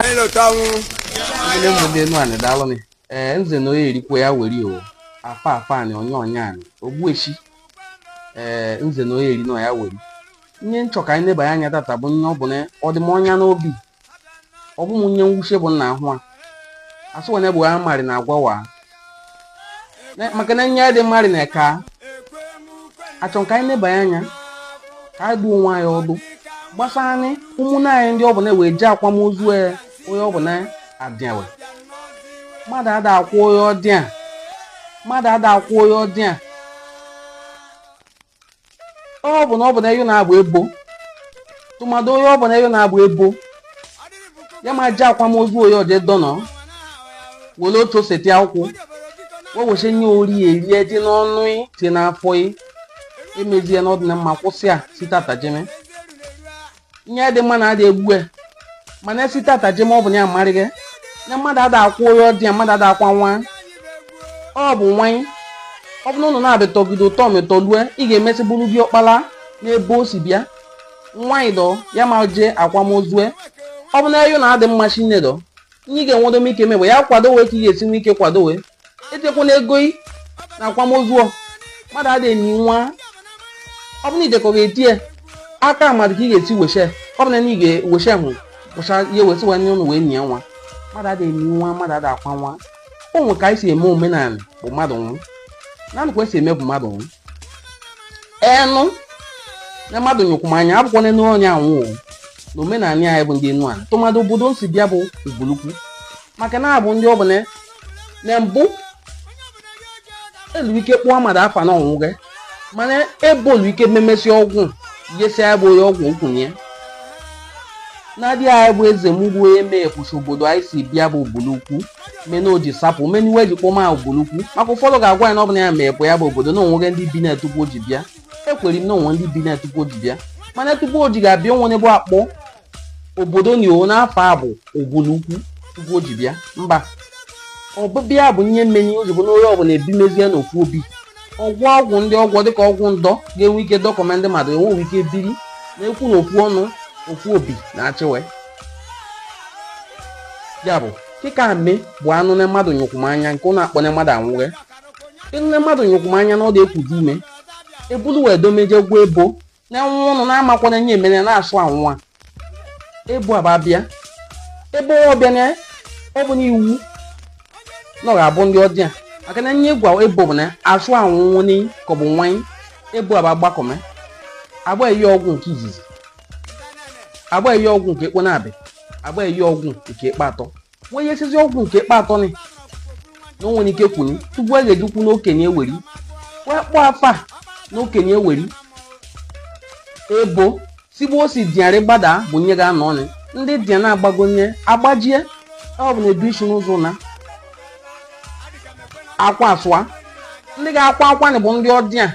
anyị lọta anwụ Ndị mbụ ndị Enuanị daalụ nị. Ee, nze na onye eri kwe ya weri o. Afa afa anị onye onye anị. Ogbueshi. Ee, nze na onye eri na ya weri. Nye m chọ ka anyị neba anya tata bụ nye ọ bụ na ọ dị m ọnya n'obi. Ọ bụ m nye mwuche bụ na ahụ a asọ wee na-abụ amarị na agwa wa. maka na nye adị amarị na ka achọ ka anyị neba anya ka anyị dụọ onwe anyị ọdụ gbasanị ụmụnne anyị ndị ọ bụ na we je akwamozu e, onye ọ bụ na adịa we mmadụ ada akwa onye ọdịa mmadụ ada akwa onye ọdịa ọ bụ na ọ bụ na eyo na-abụ ebo tụmadụ onye ọ bụ na eyo na-abụ ebo ya ma jee akwamozu onye o je dọnọ were otu oseti akwụkwụ wee weche nye ori erie tie n'ọnụ ị tie n'afọ ị emezie na ọ dịna mma kwụsị a site tata jeme nye dị mma na adị egbu ya mana site tata jeme ọ bụ na ya amarịghị na mmadụ ada akwa onye ọdịa mmadụ ada akwa nwa ọ bụ nwanyị ọ bụ na ụnụ na-abịatọgide ụtọ metọ lue ị ga-emesị bụrụ gị ọkpala n'ebe o si bịa nwanyị dọ ya ma jee akwamozue ọ bụ na eyo na adị mma chinedọ nye ị ga-enwedo m ike mee ya kwado we ka ị ga-esi nwe ike kwado we etikwana ego ị na akwamozu ọ. mmadụ adịghị eni nwa ọ bụ na ị dekọ ga-etie aka mmadụ ka ị ga-esi weshe ọ bụ na ị ga-eweshe hụ wụcha ya wesị wee nye ụnụ wee nye nwa mmadụ adịghị eni nwa mmadụ adịghị akwa nwa o nwe ka anyị si eme omenala bụ mmadụ nwụ naanị ka esi eme bụ mmadụ nwụ ị nụ na mmadụ nyụkwụ m anya abụkwana n'onye anwụ o. na omenala anyị bụ ndị Enuanị tụmadụ obodo m si bịa bụ Ubulukwu maka na anyị bụ ndị ọ bụ na mbụ elu ike kpọọ mmadụ afa na ọ nwụghị mana ebolu ike memesi ọgwụ yesi ya bụ onye ọgwụ ukwu nnadi anyị bụ Ezemu bụ onye mee ekwuchi obodo anyị si bịa bụ Ubulukwu meni o ji sapụ meni we ji kpọma ya Ubulukwu maka ụfọdụ ga-agwa anyị na ọ bụna ya mee bụ ya bụ obodo na o nwere ndị bi na tupu o ji bịa ekwere m na o nwe ndị bi na tupu o ji bịa mana tupu o ji ga-abịa o nwe nye e bu akpọ obodo ni o na afa bụ Ubulukwu tupu o ji bịa mba ọbịbịa bụ nye meni o ji bụ na onye ọbụla e bimezie n'ofu obi ọgwụ ọgwụ ndị ọgwọ dịka ọgwụ ndọ ga-enwe ike dọkọme ndị mmadụ enweghị ike biri na-ekwu na ofu ọnụ ofu obi na-achịwe ya bụ kịka ame bụ a nụ na mmadụ nyụkwumanya nke ụnụ akpọ na mmadụ anwụghị ị nụ na mmadụ nyụkwumanya na ọ dị ekudo ume ebulu wee dome je gwa ebo na nwa ụnụ na-amakwana nye emere na-asụ anwụwa ebo aba bịa ebe ọ bịa na ọ bụ n'iwu na ọ ga-abụ ndị ọdịa maka na nye gwa ebo bụ na asụ anwụnwụ n'iyi ka ọ bụ nwanyị ebo aba gbakọme aba eye ọgwụ nke izizi aba eye ọgwụ nke ekpo na-abị aba eye ọgwụ nke ekpe atọ wee yesizi ọgwụ nke kpa atọ ni na o nwere ike kwuru tupu a ga-eji kwu n'okenye eweri wee kpọọ afa a n'okenye eweri ebo sigbuo osi diarị gbada bụ nye ga-anọ ọnụ ndị dia na-agbago nye agbajie ọ bụ na edu isi n'ụzọ na akwa asụa ndị ga-akwa akwa ni bụ ndị ọdịa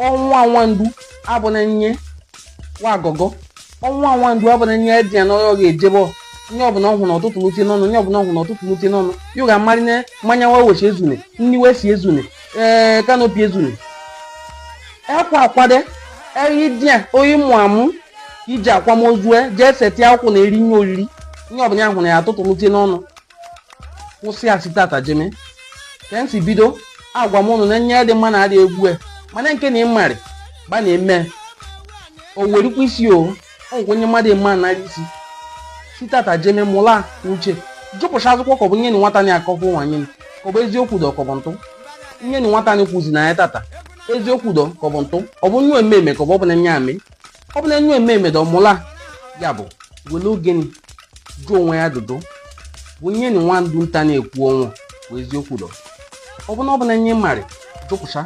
ọnwa nwandu abụna nye wa agọgọ ọnwa nwandu abụna nye di ya na ọ ga-ejebe o nye ọbụla ọ hụrụ na ọ tụtụlụ tie n'ọnụ nye ọbụla ọ hụrụ na ọ tụtụlụ tie n'ọnụ yo ga-amarị na mmanya wa wee si ezune nni wee si ezune ee kanopi ezune ekwa akwade eyi di ya oyi mụ amụ iji akwamozu e jee seti ụkwụ na eri nye oriri nye ọbụla ya hụrụ ya atụtụlụ tie n'ọnụ kwụsị ya si tata jeme ka m si bido agwa m ụnụ na nye dị mma na adị egwu e mana nke na ịmarị gba na-eme o werikwa isi o ọgwụ onye mmadụ eme anara isi si tata jeme mụla uche jụpụcha ajụjụ ka ọ bụ nye na nwata na-akọkọ nwanyị ka ọ bụ eziokwu dọ ka ọ bụ ntụ nye na nwata na-ekwuzi na ya tata eziokwu dọ ka ọ bụ ntụ ọ bụ nwa ememe ka ọ bụ ọbụla nye eme ọ bụ na enwe ememe dọ mụla ya bụ wele ogeni jụọ onwe ya ajụjụ bụ nye na nwa ndụ nta na-ekwu ọnwụ bụ eziokwu dọ ọ bụ na ọ bụ na nye marị jụpụcha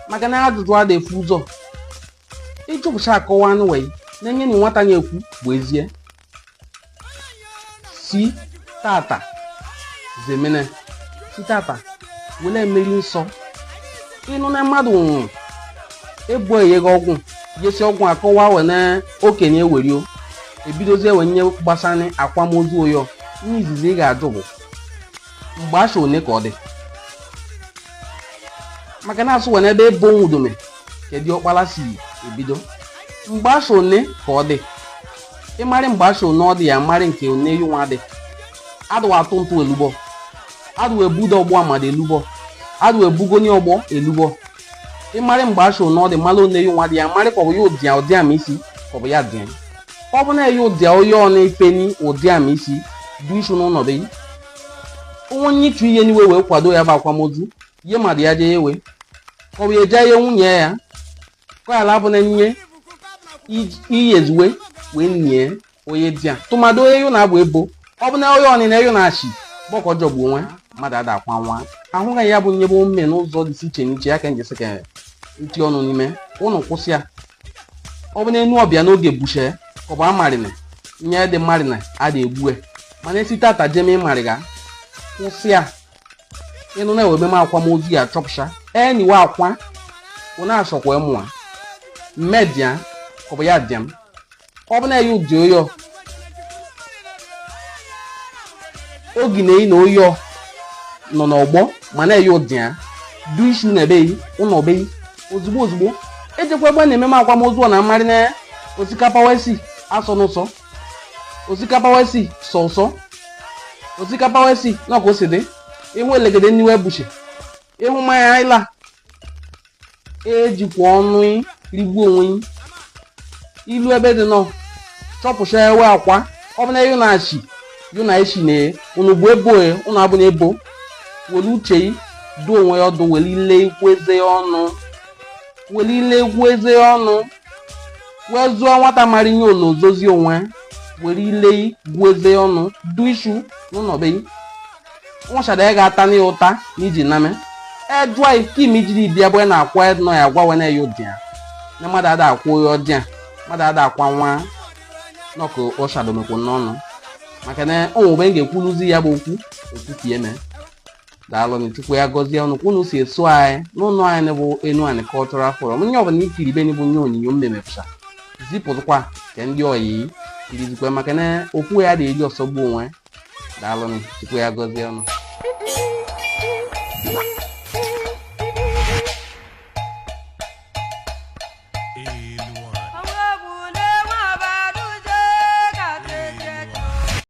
maka na ajụjụ ada efu ụzọ ịjụpụcha akọwa anụ wee na nye na nwata na-ekwu bụ ezie si tata jemeni si tata wele mmeri nsọ ịnụ na mmadụ nwụrụ ebo eyega ọgwụ yesi ọgwụ akọwa we na okenye ewerio ebidozie we nye gbasara akwamozu oyo ihe izizi ị ga-ajụ bụ mgbe asha one ka ọ dị maka na-asụ we n'ebe ebo nwudome kedu ọkpala si ebido mgbe asha one ka ọ dị ịmarị mgbe asha one ọ dị ya marị nke oneyu nwa dị adụ atụ ntụ elugbọ adụ ebudo ọgbọ amada elugbọ adụ ebugoni ọgbọ elugbọ ịmarị mgbe asha one ọ dị mara oneyu nwa dị ya marị ka ọ bụ ya ụdịa ụdị ama isi ka ọ bụ ya dị ọ bụ na ya ụdịa onye ọ na-epeni ụdị ama isi du isu n'ụlọ be onwe onye ịchụ ihe n'iwe wee kwado ya bụ akwamozu ihe mmadụ ya jee ewe ka ọ bụ ya eje ihe nwunye ya kọyala abụ na nye iyi ezi uwe wee nie onye di ya tụmadụ onye yu na-abụ ebo ọ bụ na onye ọnịna yu na-achị gbọkọ jọgbu onwe mmadụ ada akwa nwa ahụghị ya bụ nyebe omume n'ụzọ dị iche n'iche ya ka n ji sị ka n ti ọnụ n'ime ụnụ kwụsị ya ọ bụ na enu ọbịa n'oge buche ka ọ bụ amarịna nye dị mmarịna a da egbue mana esi tata jeme ịmarịga kwụsị ya ị nụ na e nwe mmeme akwamozu ya chọpụcha eniwe akwa unu achọkwa mma mmedia ọ bụ ya dịa m ọ bụ na ya ụdị oyo oge na eyi na oyo nọ n'ọgbọ ma na-eyi ụdị ya du isu na ebeghị ụlọ obeghị ozugbo ozugbo ejekwa ebe na ememe akwamozu ọ na mmarị na osikapa we si asọ ụsọ osikapa we si sọ ụsọ osikapa we si na ka o si dị ị hụ elegede n'iwe ebuche ị hụ mmanya ị la ejikwa ọnụ ị rigbuo onwe ị i lu ebe dị nọ chọpụcha ewe akwa ọ bụ na yu na achi yu na echi na unu bụ ebo e unu abụ na ebo were uche ị duo onwe ya ọdụ were ile ị gụọ eze ya ọnụ were ile ị gụọ eze ya ọnụ wee zụọ nwata mara ihe o lo ọ zụzị onwe were ile gụọ eze ọnụ du isu n'ụlọ be nwachara ya ga-ata na ya ụta na iji name ejụa e ikim ijiri bịa bụ na-akwa nọ ya gwa we na ya ụdị ya na mmadụ ada akwụ ya ọdị ya mmadụ ada akwa nwa nọkụ ọshadomekwo n'ọnụ maka na o nwe ebe m ga-ekwuluzi ya bụ okwu okwukieme daalụnụ chukwu ya gọzie unu ka unu si eso anyị n'ụlọ anyị bụ enuani cultural forum onye ọbụla ikiri ibe bụ nye onyinyo m mepụta zipụzikwa ka ndị ọyị kirizikwa maka na okwu ya dị eji ọ sọgbu onwe daalụnụ chukwu ya gọzie unu